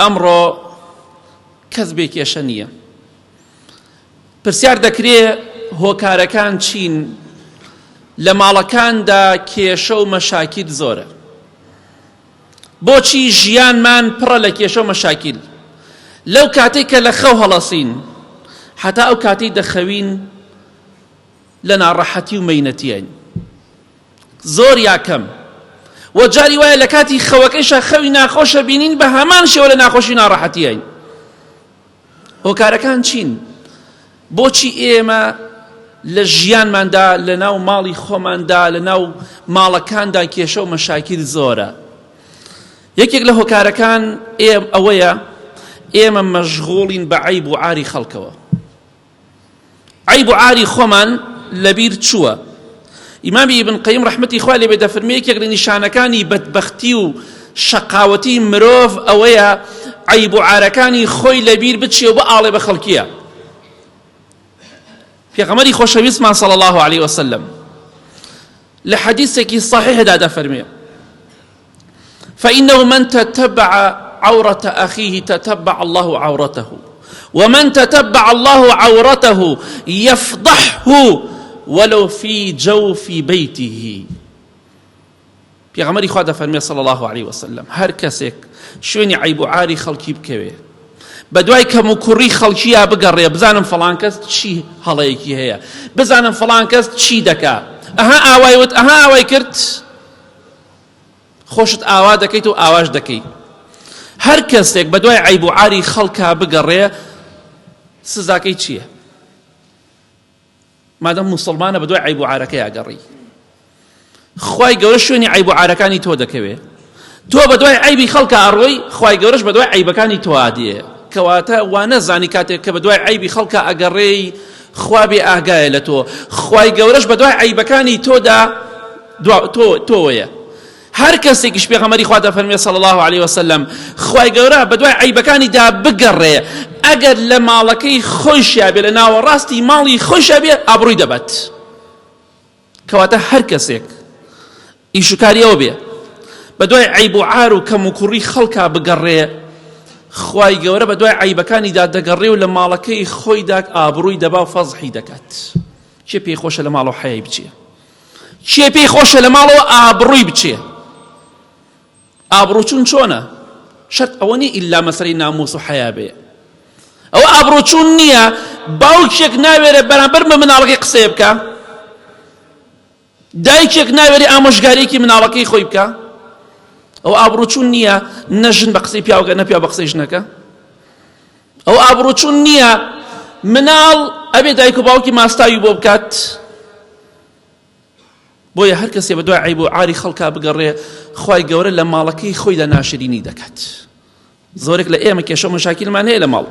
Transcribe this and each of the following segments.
ئەمڕۆ کەس بێ کێشە نییە پرسیار دەکرێ هۆکارەکان چین لە ماڵەکاندا کێشە و مەشاکیل زۆرە بۆچی ژیانمان پڕە لە کێشە و مەشاکیل لەو کاتێک کە لە خەو هەڵەسین حتا ئەو کاتی دەخەوین لە ناڕەحەتی و مەینەتیین زۆر یا کەم و جاری وایە لە کاتی خەوەکەیشا خەوی ناخۆشە بینین بە هەمان شێوە لە ناخۆشی ناڕەحەتیین هۆکارەکان چین بۆچی ئێمە لە ژیانماندا لە ناو ماڵی خۆماندا لە ناو ماڵەکاندا کێشە و مەشاکیل زۆرە یەکێک لە هۆکارەکان ئێم ئەوەیە ئێمە مەژغۆڵین بە عیب و عاری خەڵکەوە عیب و عاری خۆمان لەبیر چووە ئیمامی ئیبن قەیم ڕەحمەتی خوا لێبێ دەفرمێ یەکێک لە نیشانەکانی بەدبەختی و شەقاوەتی مرۆڤ ئەوەیە عیب و عارەکانی خۆی لەبیر بچێ و بەئاڵێ بە خەڵکیە پێغەمەری خۆشەویستمان صلی الله عليه وسلم لە حەدیثێکی صحیحدا دەفەرمێ فإنه من تتبع عورة أخيه تتبع الله عورته ومن تتبع الله عورته يفضحه ولو في جوف بيته پێغەمەری خوا دەفەرمێ صلی الله عليه وسلم هەر کەسێک شوێنی عیب و عاری خەڵکی بکەوێ بە دوای کەم و کوڕی خەڵکییا بگەڕێ بزانم فلان کەس چی هەڵەیەکی هەیە بزانم فلان کەس چی دەکا ئەها ئاوای وت ئەها ئاوای کرد خۆشت ئاوا دەکەیت و ئاواش دەکەی هەر کەسێک بە دوای عیب و عاری خەڵکا بگەڕێ سزاکەی چییە مادەم مسلمانە بە دوای عیب و عارەکەی ئەگەڕی خی گەورە شوێنی عیب و عارەکانی تۆ دەکەوێ تۆ بە دوای عیبی خەڵکە ئەڕۆی خی گەورەش بە دوای عیبەکانی تۆادیە کەواتە وانە زانی کاتێک کە بە دوای عیبی خەڵکە ئەگەڕێی خوابێ ئاگایە لە تۆ خی گەورەش بە دوای عیبەکانی تۆدا دوا تۆ تۆ وەیە هەر کەسێکیش پێغەمەری خوا دەفەرمێ صلی الله علیه وسلم خوای گەورە بە دوای عیبەکانی دا بگەڕێ ئەگەر لە ماڵەکەی خۆشیا بێ لە ناوەڕاستی ماڵی خۆشیا بێ ئابڕووی دەبات کەواتە هەر کەسێک ئیشوکاریەوە بێ بە دوای عیب و عار و کەم و کوڕی خەڵکا بگەڕێ خوای گەورە بە دوای عیبەکانی دا دەگەڕێ و لە ماڵەکەی خۆی داک ئابڕووی دەبا و فەزحی دەکات چێ پێی خۆشە لە ماڵەوە حەیای بچێ کێ پێی خۆشە لە ماڵەوە ئابڕووی بچێ ئابڕوچون چۆنە شەرت ئەوە نیە ئیلا مەسەری ناموس و حەیا بێ ئەو ئابڕوچون نییە باوکێک ناوێرە بەرامبەر بە مناڵەکەی قسەیە بکە دایکێک ناوێری ئامۆژگاریەکی مناڵەکەی خۆی بکە ئەو ئابڕوچون نییە نەژن بە قسەی پیاوەکە نەپیا بە قسەی ژنەکە ئەوە ئابڕوچون نیە مناڵ ئەبێ دایک و باوکی ماستاوی بۆ بکات بۆیە هەر کەسێ بە دوای عیب و عاری خەڵکا بگەڕێ خی گەورە لە ماڵەکەی خۆیدا ناشرینی دەکات زۆرێک لە ئێمە کێشە مەشاکیلمان هەیە لە ماڵ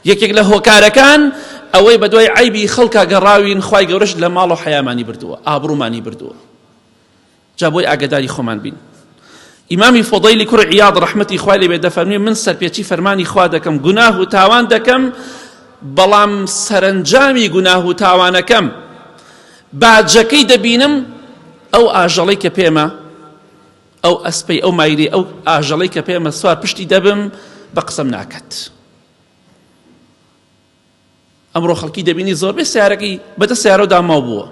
یەکێک لە هۆکارەکان ئەوەی بە دوای عیبی خەڵکا گەڕاوین خی گەورەش لە ماڵ و حیامانی بردووە ئابرومانی بردووە جا بۆی ئاگەداری خۆمان بین. ئیمامی فوضەیلی کوڕی عیاض ڕەحمەتی خوای لێبێت دەفەرموێ من سەرپێچی فەرمانی خوا دەکەم گوناه و تاوان دەکەم بەڵام سەرەنجامی گوناه و تاوانەکەم باجەکەی دەبینم ئەو ئاژەڵەی کە پێمە ئەو ئەسپەی ئەو مایری ئەو ئاژەڵەی کە پێمە سوار پشتی دەبم بە قسەم ناکات ئەمڕۆ خەڵکی دەبینی زۆربەی سیارەکەی بەدە سیارەو داماو بووە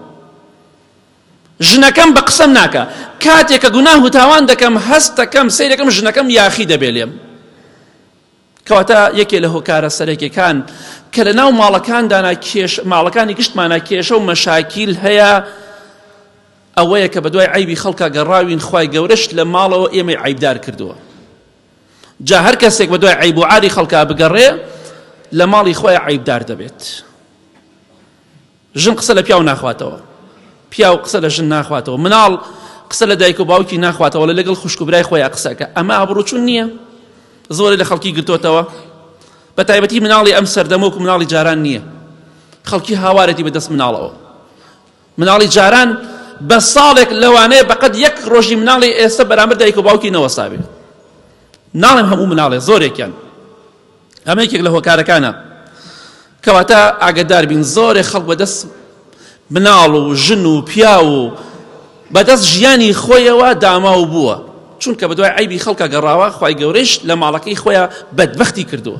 ژنەکەم بە قسەم ناکە کاتێک کە گوناه و تاوان دەکەم هەستەکەم سیرەکەم ژنەکەم یاخی دەبێ لێم کەواتە یەکێ لە هۆکارە سەرەکیەکان کە لە ناو ماڵەکاندانا کێش ماڵەکانی گشتمانە کێشە و مەشاکیل هەیە ئەوەیە کە بە دوای عیبی خەڵکە گەڕاوین خی گەورەش لە ماڵەوە ئێمەی عیبدار کردووە جا هەر کەسێک بە دوای عیب و عاری خەڵکا بگەڕێ لە ماڵی خۆی عیبدار دەبێت ژن قسە لە پیاو ناخواتەوە پیاو قسە لە ژن ناخواتەوە مناڵ قسە لە دایک و باوکی ناخواتەوە لە لەگەڵ خوشکبرای خۆیان قسەکە ئەمە ئابڕوچون نییە زۆری لە خەڵکی گرتوتەوە بە تایبەتی مناڵی ئەم سەردەمۆک و مناڵی جاران نییە خەڵکی هاوارەتی بەدەست مناڵەوە مناڵی جاران بە ساڵێک لەوانەیە بەقەد یەک ڕۆژی مناڵی ئێستا بەرامبەر دایک و باوکی نەوەسابێت ناڵێم هەموو مناڵێ زۆرێکیان ئەمە یەکێک لە هۆکارەکانە کەواتە ئاگدار بین زۆرێ خەڵک بەدەست مناڵ و ژن و پیا و بەدەست ژیانی خۆیەوە داماو بووە چونکە بەدوای عیبی خەڵکە گەڕاوە خی گەورەش لە ماڵەکەی خۆیان بەدبختی کردووە